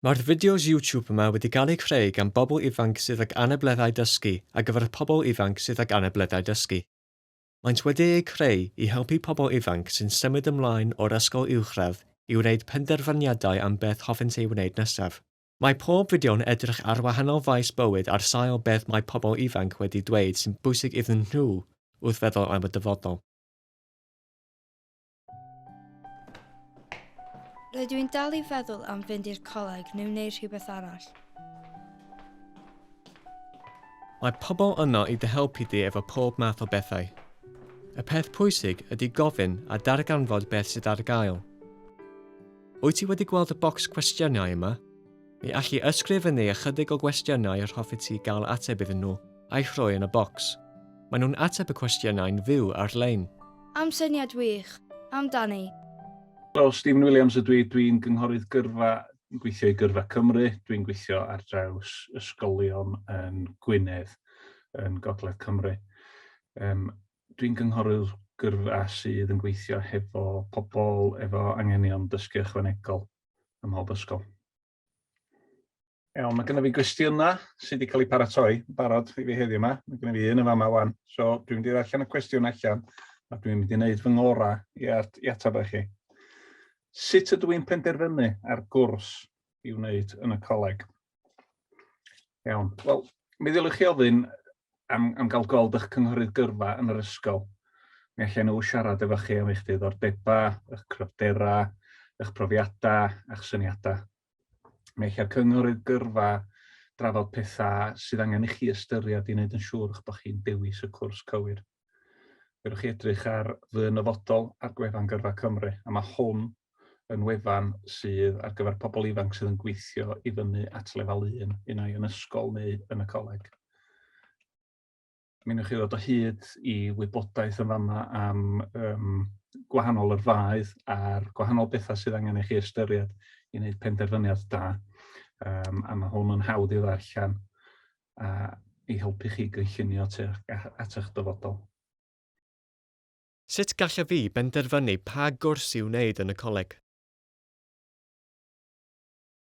Mae'r fideos YouTube yma wedi gael eu creu gan bobl ifanc sydd ag anableddau dysgu ar gyfer y pobl ifanc sydd ag anableddau dysgu. Maent wedi eu creu i helpu pobl ifanc sy'n symud ymlaen o'r ysgol uwchradd i wneud penderfyniadau am beth hoffent ei wneud nesaf. Mae pob fideo'n edrych ar wahanol faes bywyd ar sail beth mae pobl ifanc wedi dweud sy'n bwysig iddyn nhw wrth feddwl am y dyfodol. Rydw i'n dal i feddwl am fynd i'r coleg neu wneud rhywbeth arall. Mae pobl yno i dy helpu di efo pob math o bethau. Y peth pwysig ydy gofyn a darganfod beth sydd ar gael. Wyt ti wedi gweld y bocs cwestiynau yma? Ni alli ysgrifennu ychydig o gwestiynau yr hoffet ti gael ateb iddyn nhw, a'u rhoi yn y bocs. Maen nhw'n ateb y cwestiynau'n fyw ar-lein. Am syniad wych! Amdani! Helo, Stephen Williams ydw i, dw i'n gynghorydd gyrfa, yn gweithio i Gyrfa Cymru, dw i'n gweithio ar draws ysgolion yn Gwynedd, yn Gogledd Cymru. Um, dw i'n gynghorydd gyrfa sydd yn gweithio hefo pobl efo anghenion dysgu ychwanegol. ym mhob ysgol. Iawn, mae gennym fi gwestiynau sydd wedi cael eu paratoi yn barod i fi heddiw yma. Mae gennym fi un yn fama wan. So, dwi'n mynd i ddarllen y cwestiwn allan a dwi'n mynd i wneud fy ngorau i, at, i ateb chi. Sut ydw i'n penderfynu ar gwrs i wneud yn y coleg? Iawn. Wel, mi ddylech chi ofyn am, am gael gold eich cynghorydd gyrfa yn yr ysgol. Mi allan nhw siarad efo chi am eich diddordebau, eich cryfderau, eich profiadau a'ch syniadau. Mi allai'r cynghorydd gyrfa drafod pethau sydd angen i chi ystyried i wneud yn siŵr eich bod chi'n dewis y cwrs cywir. Fedrwch chi edrych ar Fy Nyfodol ar gwefan Gyrfa Cymru, a mae hwn yn wefan sydd ar gyfer pobl ifanc sydd yn gweithio i fyny at lefel 1, un ai yn ysgol neu yn y coleg. Mi wnewch chi ddod o hyd i wybodaeth yn fama am um, gwahanol yrfaoedd a'r gwahanol bethau sydd angen i chi ystyried i wneud penderfyniad da. Um, a mae hwn yn hawdd i ddarllen a i helpu chi gynllunio tu at eich dyfodol. Sut gallaf fi benderfynu pa gwrs i'w wneud yn y coleg?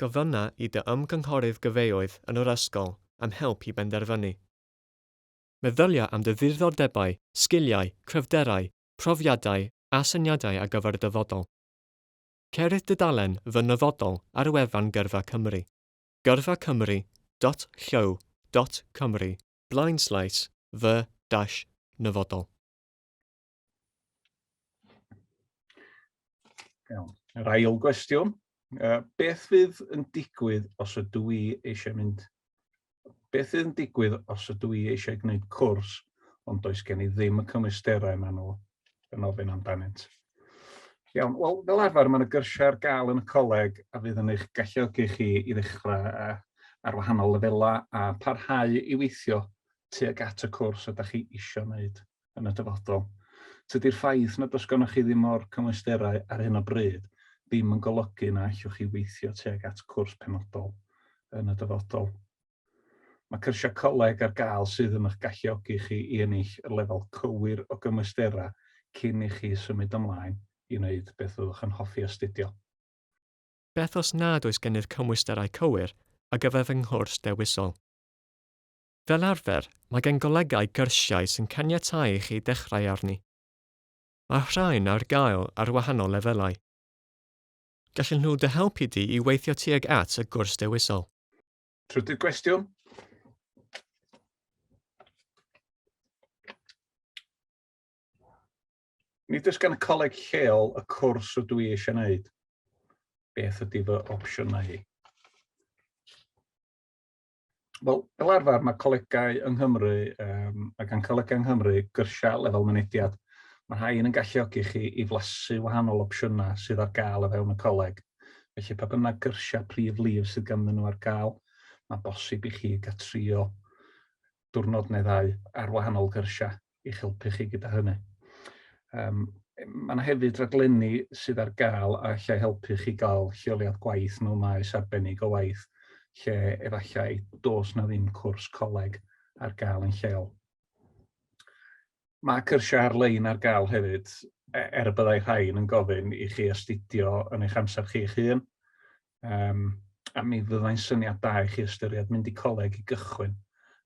Gofynna i dy ymgynghorydd gyfeoedd yn yr ysgol am help i benderfynu. Meddylia am dy ddiddordebau, sgiliau, cryfderau, profiadau a syniadau ar gyfer y dyfodol. Ceir dudalen Fy Nyfodol ar wefan Gyrfa Cymru. Gyrfa Cymru dot llyw dot Cymru. Blaenslais fy dash nyfodol. Iawn. Yr ail gwestiwn, uh, beth fydd yn digwydd os ydw i eisiau mynd... Beth fydd yn digwydd os ydw i eisiau gwneud cwrs ond does gen i ddim y cymwysterau maen nhw yn ofyn amdanynt. Iawn, wel, fel arfer, mae'n y gyrsiau ar gael yn y coleg a fydd yn eich galluogi chi i ddechrau ar wahanol lefelau a parhau i weithio tuag at y cwrs ydych chi eisiau wneud yn y dyfodol. Tydi'r ffaith nad oes gennych chi ddim o'r cymwysterau ar hyn o bryd ddim yn golygu na allwch chi weithio tuag at cwrs penodol yn y dyfodol. Mae cyrsiau coleg ar gael sydd yn eich galluogi chi i ennill y lefel cywir o gymwysterau cyn i chi symud ymlaen i wneud beth fyddwch yn hoffi astudio. Beth os nad oes gennych cymwysterau cywir ar gyfer fy nghwrs dewisol? Fel arfer, mae gan golegau gyrsiau sy'n caniatáu i chi ddechrau arni. Mae'r rhain ar gael ar wahanol lefelau. Gallen nhw dy helpu di i weithio tuag at y gwrs dewisol. Trydydd gwestiwn. Nid oes gan y coleg lleol y cwrs o dwi eisiau wneud. Beth ydy fy opsiynau i? Wel, fel arfer, mae colegau yng Nghymru um, ac yn colegau yng Nghymru gyrsiau lefel mynediad. Mae rhai yn galluogi chi i flasu wahanol opsiynau sydd ar gael o fewn y coleg. Felly pa bynnag gyrsiau prif lif sydd ganddyn nhw ar gael, mae'n bosib i chi gael trio diwrnod neu ddau ar wahanol gyrsiau i'ch helpu chi gyda hynny. Um, mae yna hefyd raglenni sydd ar gael a allai helpu chi gael lleoliad gwaith mewn maes arbennig o waith lle efallai dos na ddim cwrs coleg ar gael yn lleol. Mae cyrsiau ar-lein ar gael hefyd, er y byddai rhain yn gofyn i chi astudio yn eich amser chi'ch hun, um, a mi fyddai'n syniad da i chi ystyried mynd i coleg i gychwyn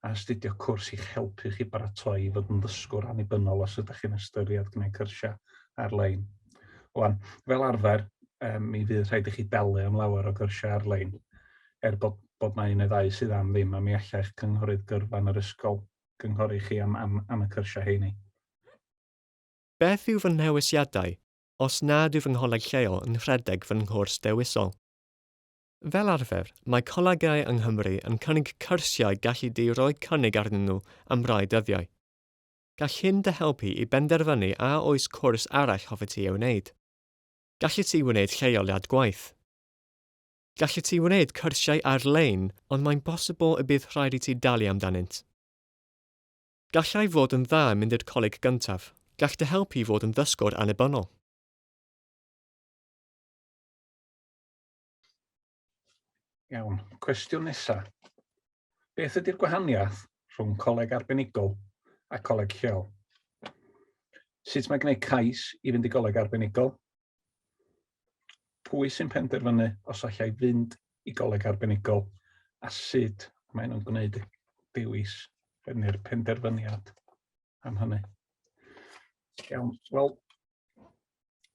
a astudio cwrs i'ch helpu chi baratoi i fod yn ddysgwr annibynnol os ydych chi'n ystyried gwneud cyrsiau ar-lein. Wan, fel arfer, um, mi fydd rhaid i chi dalu am lawer o gyrsiau ar-lein, er bod, bod na un neu ddau sydd am ddim, a mi allai'ch cynghorydd gyrfa yn yr ysgol gynghori chi am, am, am y cyrsiau heini. Beth yw fy nhewisiadau os nad yw fy ngholeg lleol yn rhedeg fy nghwrs dewisol? Fel arfer, mae colegau yng Nghymru yn cynnig cyrsiau galli di roi cynnig arnyn nhw am rai dyddiau. Gall hyn dy helpu i benderfynu a oes cwrs arall hoffet ti ei wneud. Gallet ti wneud lleoliad gwaith. Gallet ti wneud cyrsiau ar-lein, ond mae'n bosibl y bydd rhaid i ti dalu amdanynt. Gallai fod yn dda mynd i'r coleg gyntaf. Gall dy helpu i fod yn ddysgwr annibynnol. Iawn, cwestiwn nesa. Beth ydy'r gwahaniaeth rhwng coleg arbenigol a coleg lleol? Sut mae gwneud cais i fynd i goleg arbenigol? Pwy sy'n penderfynu os allai fynd i goleg arbenigol a sut maen nhw'n gwneud y dewis neu'r penderfyniad am hynny? Iawn, wel,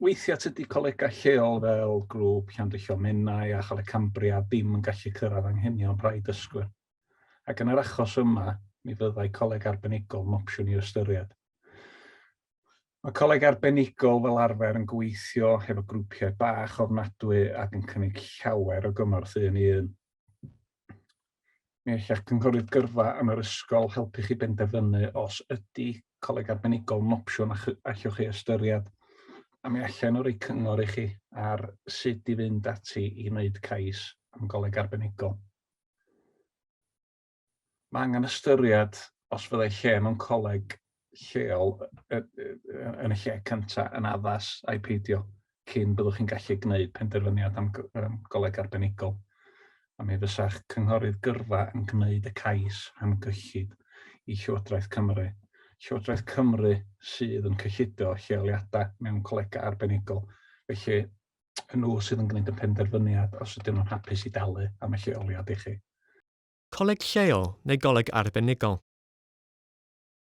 weithiau tydy colegau lleol fel grŵp Llandrillo Menai a Choleg Cambria ddim yn gallu cyrraedd anghenion rhai dysgwyr. Ac yn yr achos yma, mi fyddai coleg arbenigol yn opsiwn i ystyried. Mae coleg arbenigol fel arfer yn gweithio hefo grwpiau bach ofnadwy ac yn cynnig llawer o gymorth un i un. Mi alla'ch cynghorydd gyrfa yn yr ysgol helpu chi benderfynu os ydy coleg arbenigol yn opsiwn a allwch chi ystyried, a mi allan nhw roi cyngor i chi ar sut i fynd ati i wneud cais am goleg arbenigol. Mae angen ystyried os fyddai lle mewn coleg lleol yn y lle cyntaf yn addas ai peidio cyn byddwch chi'n gallu gwneud penderfyniad am goleg arbenigol a mi fysa'ch cynghorydd gyrfa yn gwneud y cais am gyllid i Llywodraeth Cymru. Llywodraeth Cymru sydd yn cyllido lleoliadau mewn colegau arbenigol, felly yn nhw sydd yn gwneud y penderfyniad os ydyn nhw'n hapus i dalu am y lleoliad i chi. Coleg lleol neu goleg arbenigol.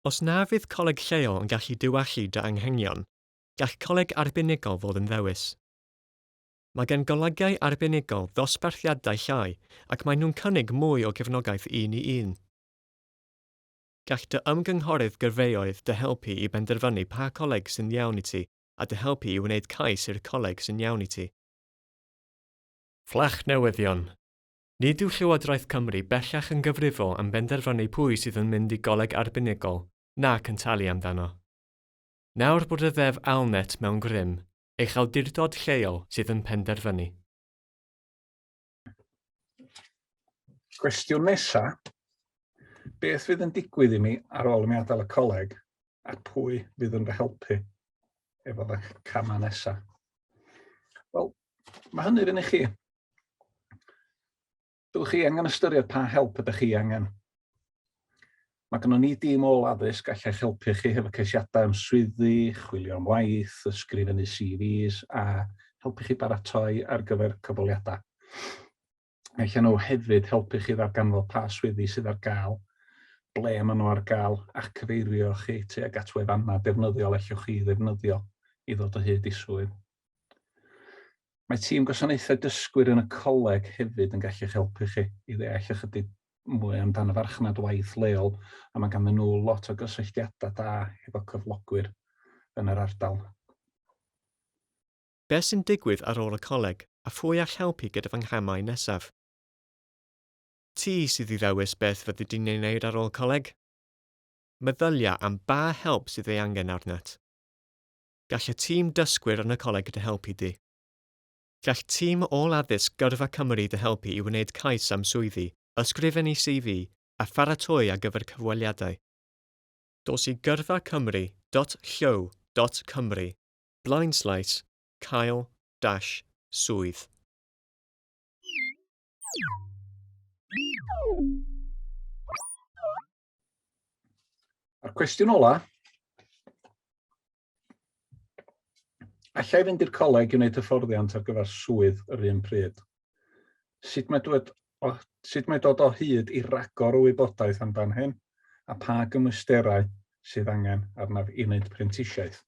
Os na fydd coleg lleol yn gallu diwallu dy anghenion, gall coleg arbenigol fod yn ddewis. Mae gan golegiau arbenigol ddosbarthiadau llai ac maen nhw'n cynnig mwy o gefnogaeth un i un. Gall dy ymgynghorydd gyrfaoedd dy helpu i benderfynu pa coleg sy'n iawn i ti a dy helpu i wneud cais i'r coleg sy'n iawn i ti. Fflach newyddion! Nid yw Llywodraeth Cymru bellach yn gyfrifol am benderfynu pwy sydd yn mynd i goleg arbenigol nac yn talu amdano. Nawr bod y Ddeddf ALNet mewn grym, eich awdurdod lleol sydd yn penderfynu. Cwestiwn nesa, beth fydd yn digwydd i mi ar ôl i mi adael y coleg a pwy fydd yn fy helpu efo fy camau nesa? Wel, Mae hynny fyny chi. Byddwch chi angen ystyried pa help ydych chi angen. Mae gennym ni dîm ôl addysg all eich helpu chi hefo ceisiadau am swyddi, chwilio am waith, ysgrifennu CVs a helpu chi baratoi ar gyfer cyfweliadau. Mae allan nhw hefyd helpu chi ddarganfod pa swyddi sydd ar gael, ble maen nhw ar gael, a cyfeirio chi tuag at wefannau defnyddiol allwch chi ddefnyddio i ddod o hyd i swydd. Mae tîm gwasanaethau dysgwyr yn y coleg hefyd yn gallu'ch helpu chi i ddeall ychydig mwy amdan y farchnad waith leol a mae ganddyn nhw lot o gysylltiadau da efo cyflogwyr yn yr ardal. beth sy'n digwydd ar ôl y coleg a phwy all helpu gyda fy nghamau nesaf. Ti sydd i ddewis beth fyddi di'n ei wneud ar ôl coleg? Meddylia am ba help sydd ei angen arnat. Gall y tîm dysgwyr yn y coleg dy helpu di. Gall tîm ôl-addysg Gyrfa Cymru dy helpu i wneud cais am swyddi, ysgrifennu CV a pharatoi ar gyfer cyfweliadau. Dos i gyrfa cymru dot llyw dot cymru blaenslais, cael, dash, swydd. A'r cwestiwn ola, allai fynd i'r coleg i wneud hyfforddiant ar gyfer swydd yr un pryd? Sut mae dod o, sut mae dod o hyd i ragor o wybodaeth amdan hyn a pa gymwysterau sydd angen arnaf i wneud prentisiaeth?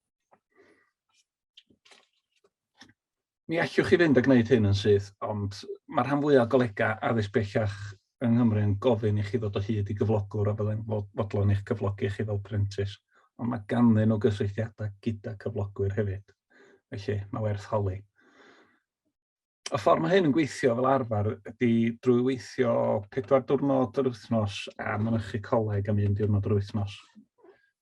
Mi allwch chi fynd a gwneud hyn yn syth, ond mae'r rhan fwyaf o golegau addysg bellach yng Nghymru yn gofyn i chi ddod o hyd i gyflogwr a fyddai'n fodlon eich cyflogi chi fel prentis, ond mae ganddyn nhw gysylltiadau gyda cyflogwyr hefyd, felly mae werth holi. y ffordd mae hyn yn gweithio fel arfer ydy drwy weithio pedwar diwrnod yr wythnos a mynychu coleg am un diwrnod yr wythnos.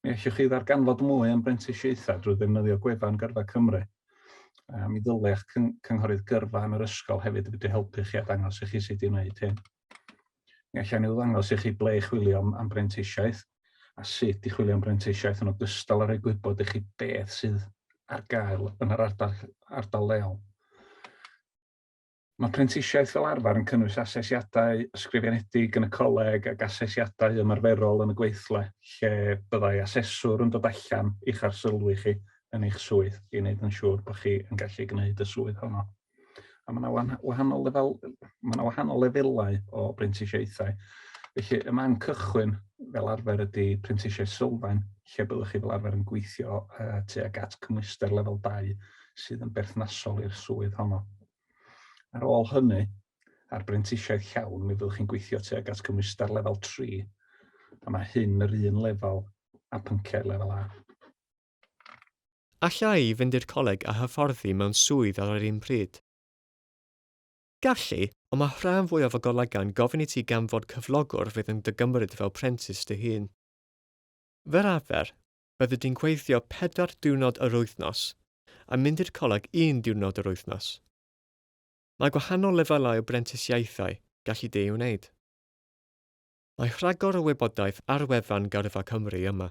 Mi allwch chi ddarganfod mwy am brentisiaethau drwy ddefnyddio gwefan Gyrfa Cymru. A mi ddylech cynghorydd gyrfa yn yr ysgol hefyd wedi helpu chi a dangos i chi sut i wneud hyn. Mi allai nhw ddangos i chi ble i chwilio am brentisiaeth a sut i chwilio am brentisiaeth yn ogystal â rhoi gwybod i chi beth sydd ar gael yn yr ardal, ardal leol. Mae prentisiaeth fel arfer yn cynnwys asesiadau ysgrifenedig yn y coleg ac asesiadau ymarferol yn y gweithle, lle byddai aseswr yn dod allan i'ch arsylwi chi yn eich swydd i wneud yn siŵr bod chi yn gallu gwneud y swydd honno. A mae yna wahanol, lefel, mae yna wahanol lefelau o brentisiaethau. Felly, y man cychwyn fel arfer ydy prentisiaeth sylfaen, lle byddwch chi fel arfer yn gweithio uh, tuag at cymwyster lefel 2 sydd yn berthnasol i'r swydd honno. Ar ôl hynny, a'r brentisiaeth llawn, mi fyddwch chi'n gweithio tuag at gymwyster lefel 3, a mae hyn yr un lefel a pynciau lefel A. Alla i fynd i'r coleg a hyfforddi mewn swydd ar yr un pryd? Galli, ond mae rhan fwyaf o golegau'n gofyn i ti ganfod cyflogwr fydd yn dy gymryd fel prentis dy hun. Fel arfer, byddi di'n gweithio pedwar diwrnod yr wythnos a mynd i'r coleg un diwrnod yr wythnos. Mae gwahanol lefelau o brentisiaethau galli di ei wneud. Mae rhagor o wybodaeth ar wefan Gyrfa Cymru yma.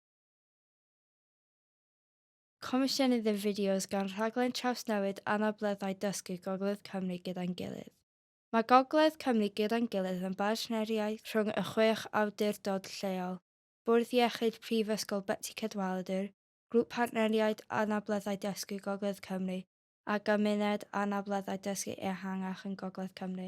Comisiynydd y fideos gan Rhaglen Trawsnewid Anableddau Dysgu Gogledd Cymru Gyda'n Gilydd. Mae Gogledd Cymru Gyda'n Gilydd yn bartneriaeth rhwng y chwech awdurdod lleol, Bwrdd Iechyd Prifysgol Betsi Cadwaladr, Grŵp Partneriaid Anableddau Dysgu Gogledd Cymru a Gymuned Anableddau Dysgu Ehangach yn Gogledd Cymru.